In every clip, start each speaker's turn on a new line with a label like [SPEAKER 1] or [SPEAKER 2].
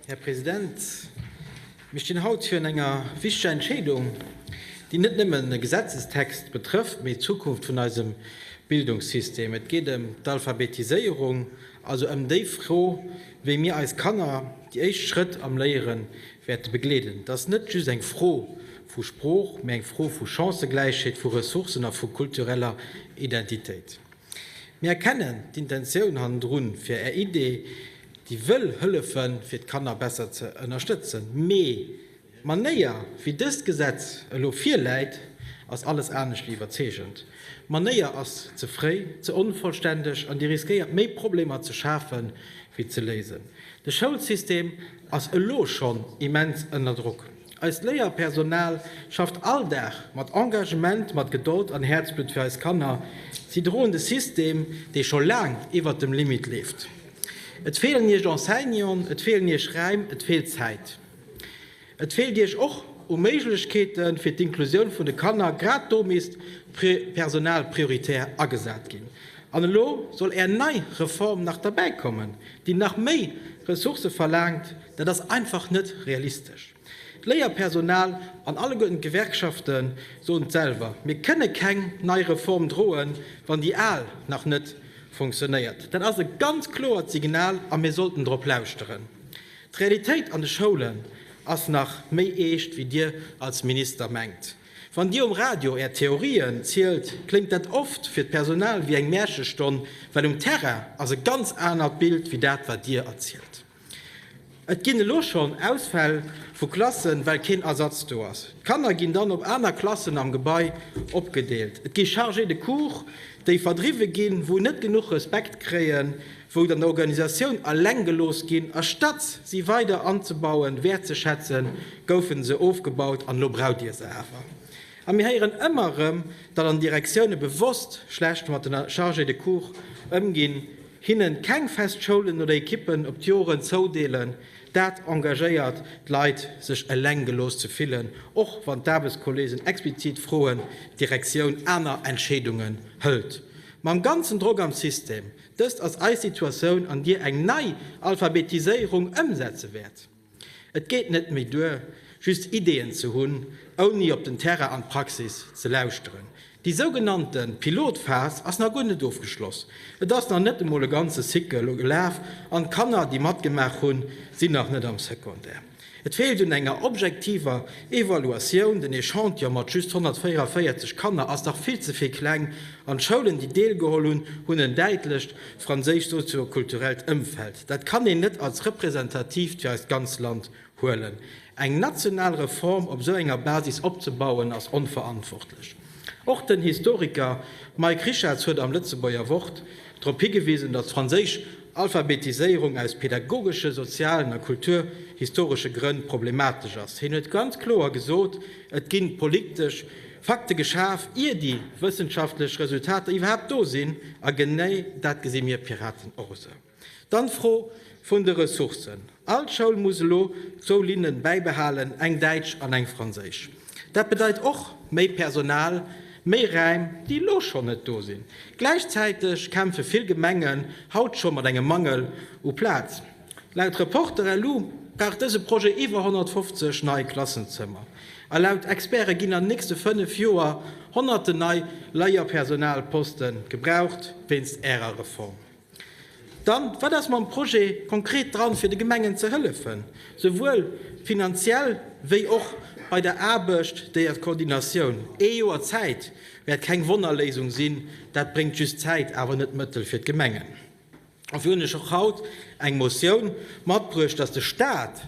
[SPEAKER 1] Här President, mir stinn haut virun enger wichteger Entscheedung, déi net nëmmen e Gesetzestext betrëfft, mee d'Zukunft vun eisem Bildungssystem. Et geet ëm d'Alphabetiséierung, also ëm déi Fro, wéi mir eis Kanner déi éischt Schrëtt am Léiere wäerte begleeden. Et ass net just eng Fro vu Sprooch, mee eng Fro vu Chancëgläichheet, vu Ressourcen a vu kultureller Identitéit. Mir erkennen d'Intentioun hannendrun, fir Är Idee, déi wëll hëllefen, fir d'Kanner besser ze ënnerstëtzen, mee d'Manéier, wéi dëst Gesetz elo virläit, ass alles anescht wéi iwwerzeegend. D'Manéier ass ze fréi, ze onvollständeg an déi riskéiert méi Problemer ze schafe wéi ze léisen. De Schoulsystem ass elo schonn immens ënner Drock. Eist Léierpersonal schafft all Dag mat Engagement, mat Gedold an Häerzblutt fir eis Kanner. Si droen de System, dee scho laang iwwert dem Limit leeft. Et feelen Iech Enseignanten, et feelen Iech Räim, et feelt Zäit. Et feelt Iech och u Méiglechkeete fir d'Inklusioun vun de Kanner. Grad do misst d'Personal prioritär agesat ginn. An elo soll Är nei Reform nach derbäikommen, déi nach méi Ressourcë verlaangt. Dat ass einfach net realistesch. D'Léierpersonal an alleguerten d'Gewerkschafte soen et selwer, Mir kënne keng nei Reform droen, wann déi al nach net funktionéiert. Dat ass e ganz kloert Signal a mir sollten drop lauschteren. D'Realitéit an de Schoulen ass nach méi eescht, wéi Dir als Minister mengt. Wann Dir um Radio Är Theorien zielt, kléngt dat oft fir d'Personal wéi eng Mäerchestonn, well um Terrain ass e ganz anert Bild wéi dat, wat Dir erzielt. Et ginn elo schonn Ausfäll vu Klassen, well keen Ersatz do ass. D'Kanner ginn dann op aner Klassen am Gebai opgedeelt. Et gi Chargés de cours, déi verdriwwe ginn, wou net genuch Respekt kréien, wou an der Organisatioun eleng gelooss ginn. Astatt si weider anzebauen, wäertzeschätzen, goufe se ofgebaut an elo braucht Dir se awer. A mir héieren ëmmer erëm, datt an Direktioune bewosst schlecht mat de Chargés de cours ëmginn. Hinnen keng fest Schoulen oder Ekippen op d'Joren zoudeelen, dat engagéiert d'Leit sech eleng gelooss ze fillen, och wann d'Aarbechtskolleegen explizit froen, d'Direktioun aner Entscheedungen hëlt. Mam ganzen Drock am System, dëst ass eis Situatioun an Dir eng nei Alphabetiséierung ëmsetze wäert. Et geet net méi duer, just Ideeën ze hunn, ouni op den Terrain an d'Praxis ze lauschteren. Déi sougenannte Pilotphas ass nach guer net ofgeschloss. Et ass nach net emol e ganze Cycle gelaf an d'Kanner, déi matgemaach hunn, sinn nach net am Secondaire. Et feelt un enger objektiver Evaluatioun. Den Echantillon mat just 144 Kanner ass dach vill ze vill kleng an d'Schoulen, déi deelgeholl hunn, hunn en däitlecht. franséischt sozio-kulturellt Ëmfeld, dat kann een net als representatiivt fir eist ganz Land huelen. Eng national Reform op esou enger Basis opzebauen, ass onverantwortlech. Och den Historiker Mike Richartz huet am Lëtzebuerger Wort drop higewisen, datt d'franséisch Alphabetiséierung aus pädagogesche, sozialen a kulturhistoresche Grënn problematesch ass. Hien huet ganz kloer gesot, et gi politesch. Fakte geschaf, ier déi wëssenschaftlech Resultater iwwerhaapt do sinn, a genee dat gesi mir Piraten och esou. Dann d'Fro vun de Ressourcen. All Schoul muss elo zwou Linnen bäibehalen, eng däitsch an eng franséisch. Dat bedeit och méi Personal, méi Räim, déi elo schonn net do sinn. Gläichzäiteg kämpfe vill Gemengen haut scho mat engem Mangel u Plaz. Laut Reporter elu brauch dëse Projet iwwer 150 nei Klassenzëmmer a laut Experte ginn an den nächste fënnef Joer Honnerten nei Leierpersonalposte gebraucht wéinst Ärer Reform. Dann, wat ass mam Projet konkret dran, fir de Gemengen ze hëllefen, souwuel finanziell wéi och bei der Aarbecht der d'Koordinatioun? Ee Joer Zäit wäert keng Wonnerléisung sinn, dat bréngt just Zäit, awer net Mëttel fir d'Gemengen. Dofir hunn ech och haut eng Motioun matbruecht, dass de Stat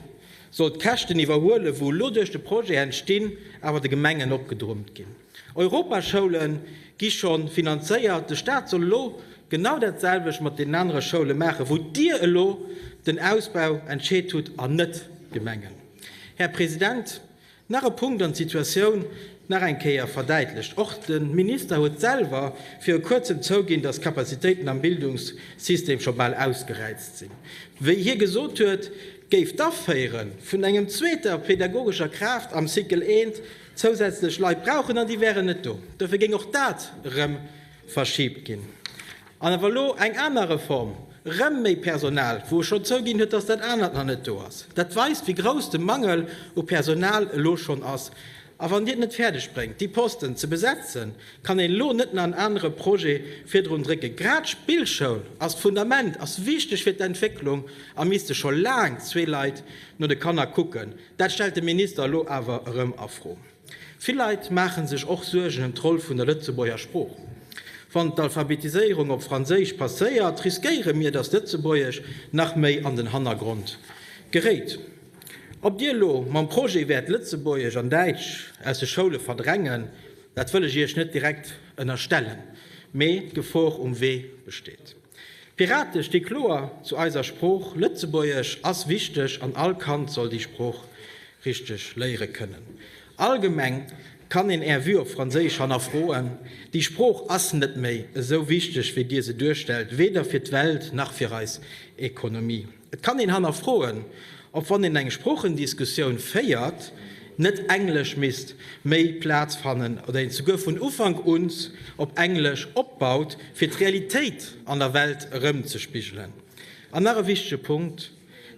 [SPEAKER 1] soll d'Käschten iwwerhuelen, wou elo duerch de Projet entstinn, awer de Gemengen opgedrummt ginn. Europaschoule gi scho finanzéiert, de Stat soll elo genau dat selwecht mat deenen anere Schoule maachen, wou Dir elo den Ausbau entscheet hutt, an net d'Gemengen. Här President, Nach e Punkt an d'Situatioun nach eng Kéier verdäitlecht. Och de Minister huet selwer viru kuerzem zouginn, datt d'Kapazitéiten am Bildungssystem scho bal ausgeräizt sinn. Wéi hie gesot huet, géif d'Aféiere vun engem zweeter pädagogescher Kraaft am Cycle I zousätzlech Leit brauchen an déi wären net do. Dofir géing och dat erëm verschibt ginn. An awer elo eng aner Reform, erëm méi Personal, wou e schonn zouginn huet, datt dat anert nach net do ass. Dat weist, wéi grouss de Mangel u Personal elo schonn ass. A wann Dir et net fäerdeg bréngt, déi Posten ze besetzen, kann een elo net nach en anere Projet virdrun drécken. Grad d'Spillschoul ass d'Fundament, ass wichteg fir d'Entwécklung a misste scho laang zwee Leit no de Kanner kucken. Dat stellt de Minister elo awer erëm a Fro. Vill Leit maache sech och Suergen ëm d'Roll vun der Lëtzebuerger Sprooch. Wann d'Alphabetiséierung op Franséisch passéiert, riskéiere mir, datt d'Lëtzebuergesch nach méi an den Hannergrond geréit. Ob Dir elo mam Projet wäert Lëtzebuergesch an Däitsch aus de Schoule verdrängen, dat wëll ech Iech net direkt ënnerstellen, mee d'Gefor um Wee besteet. D'Pirate sti kloer zu eiser Sprooch. Lëtzebuergesch ass wichteg an all Kand soll déi Sprooch richteg léiere kënnen. Allgemeng kann een Är Vue op Franséisch hannerfroen. Déi Sprooch ass net méi esou wichteg, wéi Dir se duerstellt, weder fir d'Welt nach fir eis Ekonomie. Et kann een hannerfroen, ob wann een eng Sproochendiskussioun féiert, net Englesch misst méi Plaz fannen oder een souguer vun Ufank uns op Englesch opbaut, fir d'Realitéit an der Welt erëmzespigelen. An nach e wichtege Punkt,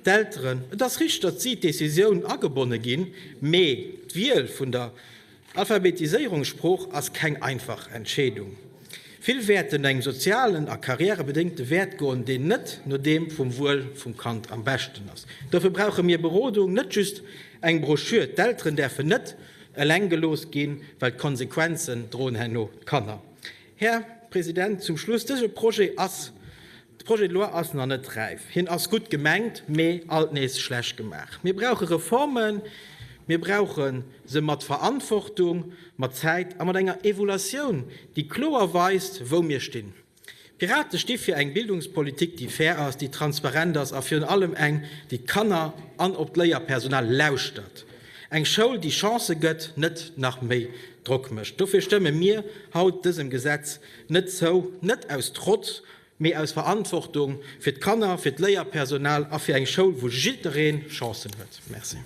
[SPEAKER 1] D'Elteren, et ass richteg, datt si d'Decisioun agebonne ginn, mee d'Wiel vun der D'Alphabetiséierungssprooch ass keng einfach Entscheedung. Vill wäerten no engem sozialen a karriärebedéngte Wäert goen, deen net no deem vum Wuel vum Kand am beschten ass. Dofir brauche mir Berodung, net just eng Broschür. D'Elteren däerfen net eleng gelooss ginn, well d'Konsequenzen droen herno d'Kanner. Här President, zum Schluss, dëse Projet ass, de Projet de loi ass nach net räif. Hien ass gutt gemengt, mee alt nees schlecht gemaach. Mir brauche Reformen, mir brauche se mat Verantwortung, mat Zäit a mat enger Evoluatioun, déi kloer weist, wou mir stinn. D'Pirate sti fir eng Bildungspolitik, déi fair ass, déi transparent ass a virun allem eng, déi d'Kanner an op d'Léierpersonal lauschtert. Eng Schoul, déi Chancë gëtt, net nach méi Drock mécht. Dofir stëmme mir haut dësem Gesetz net zou, net aus Trotz, mee aus Verantwortung fir d'Kanner, fir d'Léierpersonal a fir eng Schoul, wou jidderee Chancen huet. Merci.